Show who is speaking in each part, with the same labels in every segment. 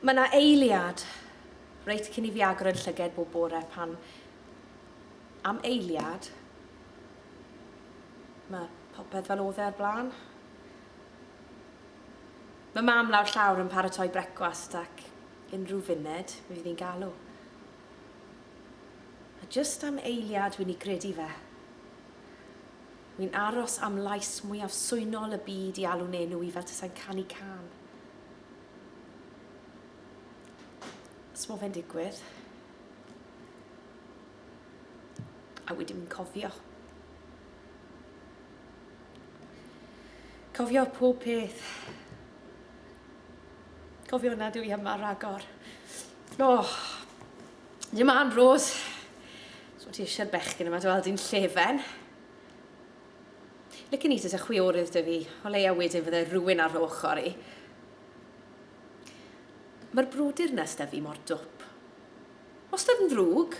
Speaker 1: Mae 'na eiliad reit cyn i fi agor yn llyged bob bore pan am eiliad mae popeth fel odd e o'r blaen. Mae mam lawr llawr yn paratoi brecwast ac unrhyw funud mi fydd hi'n galw. A jyst am eiliad wi'n 'i gredu fe. Wi'n aros am lais mwyaf swynol y byd i alw'n enw i fel tasai'n canu cân. Os mo fe'n digwydd. A wi dim yn cofio. Cofio pob peth. Cofio na dwi yma ragor. O! Dim an, Rose. So ti eisiau'r bechgyn yma dy weld i'n llefen? Licen i tasa chwiorydd 'da fi, o leia wedyn fydde rywun ar fy ochr i. Mae'r brwydr 'na s'da fi mor dwp. Wastad yn ddrwg,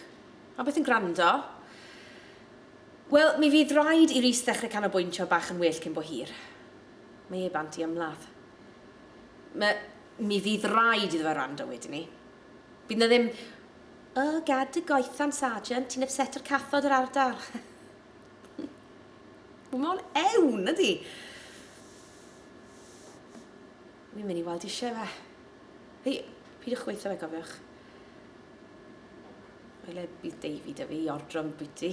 Speaker 1: a byth yn gwrando. Wel, mi fydd raid i Rhys ddechrau canolbwyntio bach yn well cyn bo hir. Mae e bant i ymladd. Ma, mi fydd raid iddo fe wrando wedyn 'ny. Bydd 'na ddim, 'O, gad dy goethan, Sargeant, ti'n ypseto cathod yr ardal. Wel, mae o'n ewn, ydi? Mi'n mynd i weld eisiau fe. Hei, pyd o'ch gweithio fe, gofiwch. Mae le bydd Davy dy fi i ordro yn bwyty.